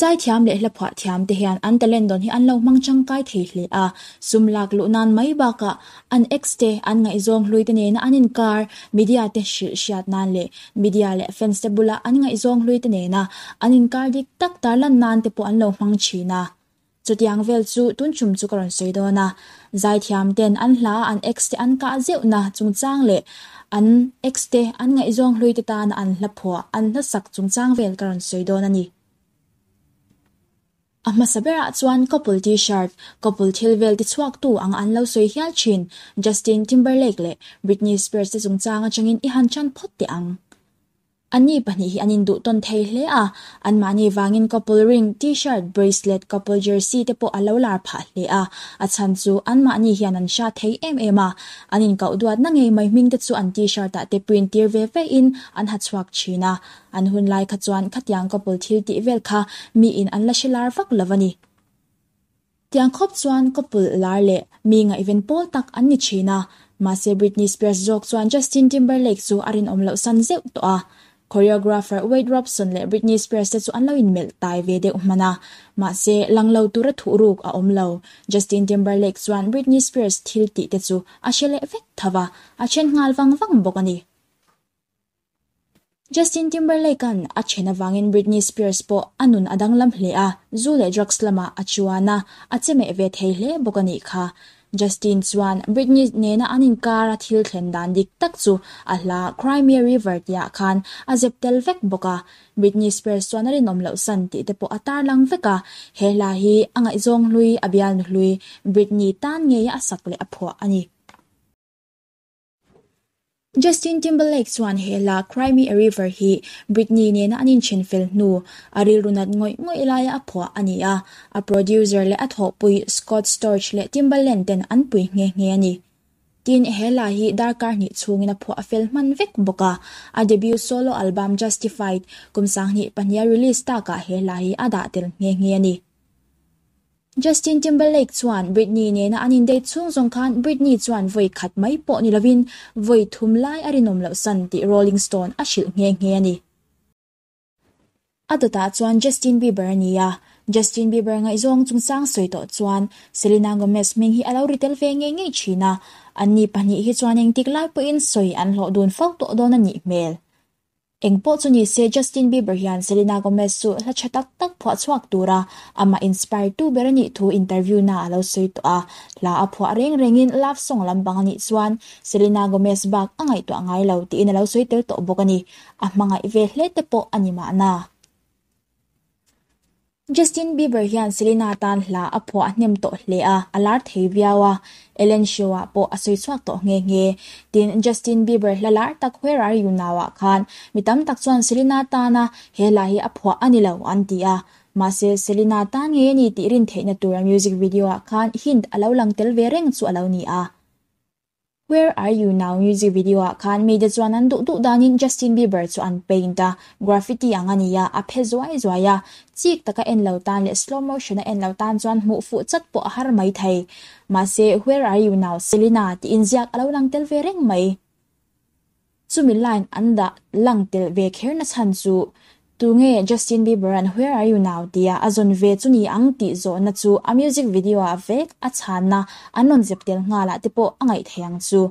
Zaithiam leh hla phuah thiam te hian an talent dawn hi an lo hmang changkai thei hle a, sum lak luh nan mai bakah An ex-te, an ngaihzawng hluite nena an inkar, media-te hrilh hriat nan leh media leh fans-te bula an ngaihzawng hluite nena an inkar dik tak tarlan nan te pawh an lo hmang thin a. Chutiang vel chu tun chum chu ka rawn sawi dawn a, Zaithiamten an hla a an ex-te an kah zeuhna chungchang leh an ex-te an ngaihzawng hluite tana an hlaphuah, an hlasak chungchang vel ka rawn sawi dawn a ni. A hmasa berah chuan couple T-shirt, couple thil vel ti chhuak tu anga an lo sawi hial thin. Justin Timberlake leh Britney Spears te chungchang atangin i han tan phawt teh ang. An ni pahnih hi an induhtawn thei hle a, anmahni vangin couple ring, T-shirt, bracelet, couple jersey te pawh a lo lar phah hle a. A chhan chu anmahni hian an hra thei em em a, an inkauh duatna ngei mai hming te chu an T-shirt ah te print tir ve ve in an ha chhuak thin a. An hun lai kha chuan khatiang couple thil tih vel kha mi in an la hre lar vak lo a ni. Tiang khawp chuan couple lar leh mi ngaihven pawl tak an ni thin a. Mahse Britney Spears zawk chuan Justin Timberlake chu a rinawm loh san zeuh tawh a. Choreographer Wade Robson leh Britney Spears te chu an lo inmelh tai ve deuh hman a. Mahse lang lo tura thuh ruk a awm lo. Justin Timberlake chuan Britney Spears thil tih te chu a hre leh vek tho a, a then nghal vang vang bawk a ni. Justin Timberlake-a'n a then avangin Britney Spears pawh a nun a danglam hle a, zu leh drugs lamah a chuan a, a che meh ve thei hle bawk a nih kha. Justin chuan Britney nena an inkar a thil thlen dan dik tak chu a hla Cry Me a River tihah khan a zep tel vek bawk a, Britney Spears chuan a rinawm loh san tih te pawh a tarlang vek a, he hla hi a ngaihzawng hlui a bialnu hlui Britney tan ngei a sak leh a phuah a ni. Justin Timberlake chuan he la Cry Me a River hi Britney nena an inthen fel hnu a rilru nat ngawih ngawih laia a phuah a ni a, a producer leh a thawhpui Scott Storch leh Timbaland ten an pui nghe nghe a ni. Tin, he la hi darkar hnih chhungin a phuah a fel hman vek bawk a, a debut solo album Justified kum sanghnih pahniha release takah he la hi a dah tel nghe nghe a ni. Justin Timberlake chuan Britney nena an indate chhung zawng khan Britney chuan vawi khat mai pawh ni lovin vawi thum lai a rinawm loh san tih Rolling Stone a hrilh nghe nghe a ni. A dawtah chuan Justin Bieber a ni a, Justin Bieber ngaihzawng chungchang sawi tawh chuan Selena Gomez hming hi a lo ri tel ve ngei ngei thin a, anni pahnih hi chuan engtik lai pawhin sawi an hlawh dun fo tawh dawn a nih hmel Eng pawh chu ni se, Justin Bieber hian Selena Gomez chu hla tha tak tak phuah chhuak tura amah inspire tu ber a nih thu interview naah a lo sawi tawh a. Hla a phuah reng rengin love song lampang a nih chuan Selena Gomez bak a ngaihtuah ngai lo tiin a lo sawi tel tawh bawk a ni. A hmangaih ve hle te pawh a ni mahna. Justin Bieber hian Selena tan hla a phuah a hnem tawh hle a, a lar thei viau a, Ellen Show-ah pawh a sawi chhuak tawh nghe nghe. Tin, Justin Bieber hla lar tak huai rar yu nauah khan mi tam tak chuan Selena tana he hla hi a phuah a ni lo an ti a. Mahse, Selena tan ngei a ni tih rin theihna tura music video-ah khan hint a lo lang tel ve reng chu a lo ni a. Where are you now music video ah khan mi te chuan an duh duh danin Justin Bieber chu an paint a, graffiti ang a ni a, a phe zuai zuai a, chik taka en lo tan leh slow motion a en lo tan chuan hmuh fuh chat pawh a har mai thei. Mahse, Where are you now Selena? tiin ziak a lo lang tel ve reng mai. Chumi line an dah lang telh ve kher nachhan chu tu nge Justin Bieber an Where are you now tia a zawn ve chu ni ang tih zawhna chu a music video ah vek a chhanna an rawn zep tel nghalah te pawh a ngaih thei ang chu.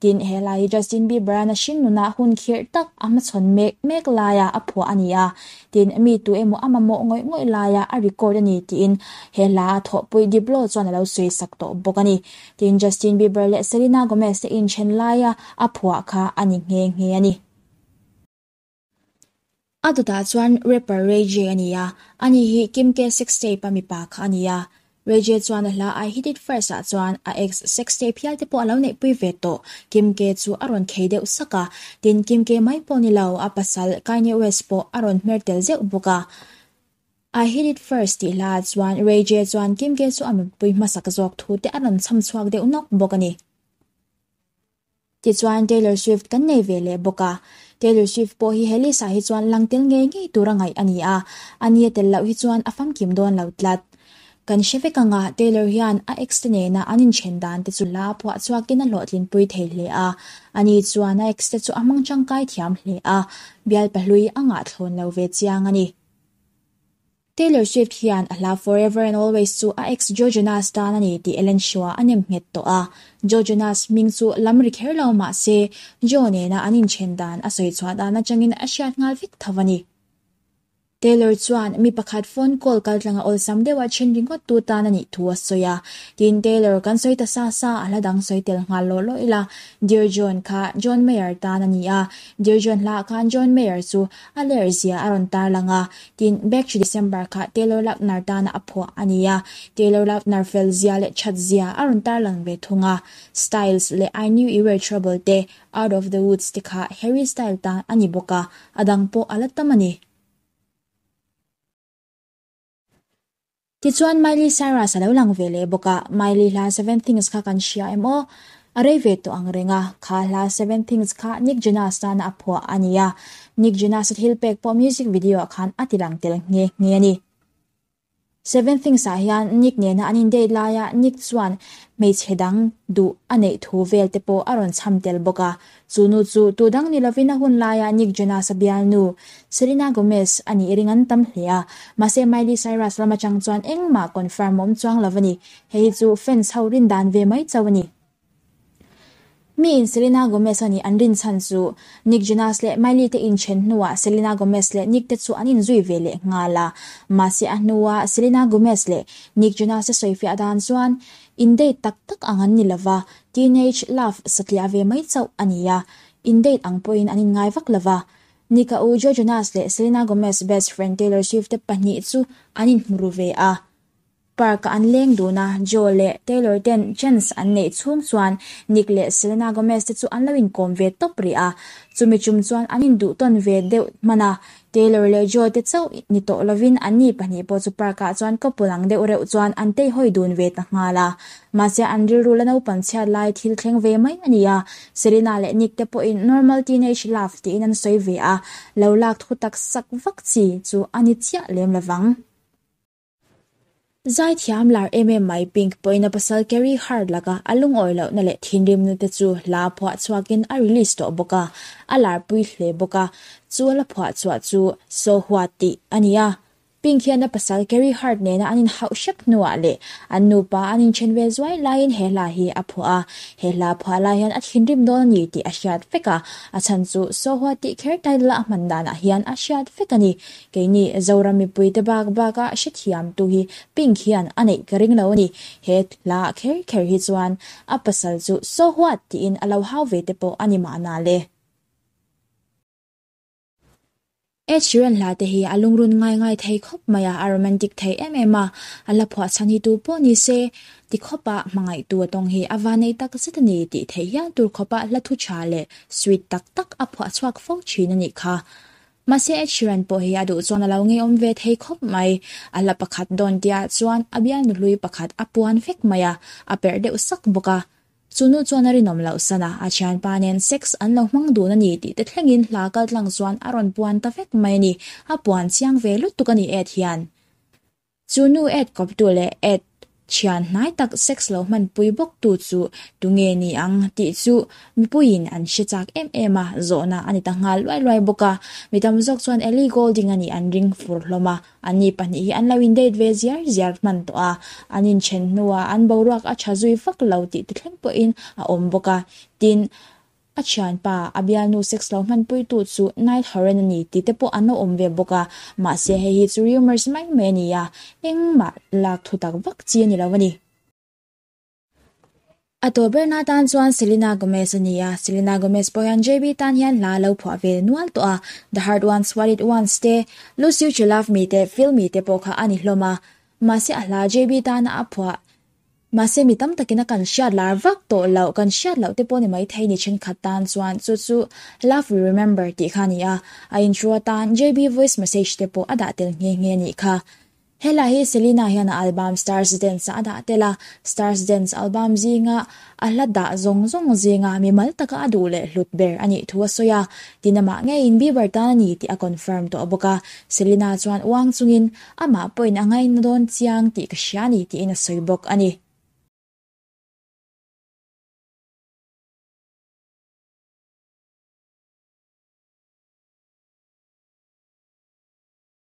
Tin, helai hi Justin Bieber a na hring nunah hun khirh tak a hmachhawn mek mek laia a phuah a ni a, tin, mi tu emaw a mamawh ngawih ngawih laia a record a ni tiin he hla a thawhpui Diplo chuan a lo sawisak tawh bawk a ni. Tin, Justin Bieber leh Selena Gomez-te inthen laia a phuah kha a ni nghe nghe a ni. A dawtah chuan rapper Ray J a ni a, a ni hi Kim K sextape-a mipa kha a ni a. Ray J chuan a hla I Hit It First-ah chuan a ex sextape hialte pawh a lo neihpui ve tawh, Kim K chu a rawn khei deuh sak a. Tin, Kim K mai pawh ni lo, a pasal Kanye West pawh a rawn hmer tel zeuh bawk a. I hit it first tih hla ah chuan Reije chuan Kimge chu a mipui hmasak zawk thu te a rawn chham chhuak deuh nawk bawk a ni. Tichuan Taylor Swift kan nei ve leh bawk a. Taylor Swift pawh hi he list ah hi chuan lang tel ngei ngei tur a ngaih a ni a, a nia tel loh hi chuan a famkim dawn lo tlat. Kan hre vek ang a, Taylor hian a ex te nena an inthen dan te chu hla a phuah chhuak in a hlawhtlin pui thei hle a, a ni chuan a ex te chu a hmang tangkai thiam hle a, bialpa hlui a ngahthlawn lo ve chiang a ni. Taylor Swift hian a hla Forever and Always chu a ex Joe Jonas tan a ni tih Ellen Shua a nem nghet tawh a. Joe Jonas hming chu lam ri kher lo mahse, Joe nena an inthen dan a sawi chhuah dan atangin a hriat nghal vek tho a ni. Taylor chuan mi pakhat phone call kaltlanga awlsam deuha chhin ringawt tu tan a nih thu a sawi a. Tin, Taylor kan sawi ta sa sa a hla dang sawi tel nghal lawh lawh ila Dear John kha John Mayer tan a ni a. Dear John hla ah khan John Mayer chu A ler zia a rawn tar lang a, tin, Backchi December kha Taylor Lautner tana a phuah a ni a. Taylor Lautner fel zia leh chat zia a rawn tar lang ve thung a. Styles leh I Knew You Were Trouble te, Out Of The Woods te kha Harry Style tan a ni bawk a, a dang pawh a la tam a ni. Tichuan Miley Cyrus a lo lang ve leh bawk a, Miley hla Seven Things kha kan hria em aw, a rei ve tawh ang reng a, kha hla Seven Things kha Nick Jonas nana a phuah a ni a, Nick Jonas a thil pek pawh music video ah khan a ti lang tel nghe nghe a ni. Seven Things ah hian Nick nena an in date lai a, Nick chuan hmeichhe dang duh a neih thu vel te pawh a rawn chham tel bawk a, Chu nu chu tu dang ni lovin a hun laia Nick Jonas-a bialnu, Selena Gomez, a nih ring an tam hle a. Mahse, Miley Cyrus lam atang chuan engmah confirm awm chuang lo a ni. Hei hi chu fans ho rin dan ve mai chauh a ni. Mi in Selena Gomez-a nih an rin chhan chu Nick Jonas leh Miley te inthen hnuah Selena Gomez leh Nick te chu an inzui ve leh nghal a. Mahse, a hnua Selena Gomez leh Nick Jonas-a sawifiah dan chuan in date tak tak ang an ni lova, Teenage love satliah ve mai chauh a ni a, in date ang pawhin an inngai vak lo va. Nika u Joe Jonas leh Selena Gomez best friend Taylor Swift te pahnih chu an inhmu ru ve a. Park-a an leng dun a, Joe leh Taylor ten chance an neih chhung chuan Nick leh Selena Gomez te chu an lo inkawm ve tawp rih a. Chumi tum chuan an induhtawn ve deuh hmana Taylor leh Joe te chauh ni tawh lovin an ni pahnih pawh chu park ah chuan couple ang deuh reuh chuan an tei hawi dun ve ta nghal a. Mahse an rilru la naupang chhiat lai thil thleng ve mai a ni a. Serena leh Nick te pawhin normal teenage love tiin an sawi ve a, lo lak thu taksak vak chi chu a ni chiah lem lovang. Zai thiam lar em em mai Pink pawina pasal Carrie Hart laka a lungawi lohna leh thinrimna te chu hla phuah chhuakin a release tawh bawk a, a lar pui hle bawk a, chuan a phuah chhuah chu So What tih a ni a. Pink hian a pasal Carrie Hart nena an inhauh hrep hnuah leh an nupa an inchen vel zuai laiin he hla hi a phuah a, he hla phuah lai hian a thinrim dawn a ni tih a hriat vek a, a chhan chu So What tih kher title a hman danah hian a hriat vek a ni, Keini Zoram mipui te bak bak a hrethiam tu hi Pink hian a neih ka ring lo a ni. He hla kher kher hi chuan a pasal chu so what tiin a lo hau ve te pawh a ni mah na le. Ed Sheeran hla te hi a lungrun ngai ngai thei khawp mai a, a romantic thei em em a, a hla phuah chhan hi tu pawh ni se ti khawp a, hmangaih tu a tawng hi a vanei tak zet a ni tih theih hial tur khawp a hla thu tha leh sweet tak tak a phuah chhuak fo thin a nih kha. Mahse Ed Sheeran pawh hi a duh chuan a lo ngeiawm ve thei khawp mai. A hla pakhat dawn tihah chuan a bial nuhlui pakhat a puan vek mai a, a perh deuh sak bawk a. Chu nu chuan a rinawm loh san a, a thianpa nen sex an lo hmang dun a ni tihte thlengin hla kaltlang chuan a rawn puan ta vek mai a ni. A puan chiang ve lutuk a ni Ed hian. Chu nu et kawptu leh et thian hnai tak sex lo hman pui bawktu chu tunge ni ang tih chu mipuiin an hre chak em em a, zawhna a ni ta nghal luai luai bawk a. Mi tam zawk chuan Ellie Goulding a nih an ring fur hlawm a, anni pahnih hi an lo in date ve ziar ziar hman tawh a, an in then hnuah an boruak a tha zui vak lo tih ti thleng pawhin a awm bawk a, tin, A thianpa, a bialnu sex lo hmanpuitu chu Niall Horan a ni tite pawh an lo awm ve bawk a, mahse hei hi chu rumours mai mai a ni a, engmah lak thutak vak chi a ni lo a ni. A tawh berna tan chuan Selena Gomez a ni a, Selena Gomez pawh hian JB tan hian hla a lo phuah ve nual tawh a, The Hard Ones, What It Wants te, Lose You To Love Me te, Feel Me te pawh kha a ni hlawm a, mahse a hla JB tana a phuah Mahse mi tam takin a kan hriat lar vak tawh loh, kan hriat loh te pawh ni maithei ni thenkhat tan chuan chu chu Love we remember tih kha a ni a, a intro atan JB voice message te pawh a dah tel nghe nghe nih kha. Helai hi Selina hian a album Stars Dance ah a dah tel a, Stars Dance album zinga a hla dah zawng zawng zinga mimal taka a duh leh hlut ber a nih thu a sawi a, din amah ngeiin Bieber tan a ni tih a confirm tawh bawk a, Selina chuan uang chungin. Amah pawhin a ngaina dawn chiang tih ka hria a ni tiin a sawi bawk a ni.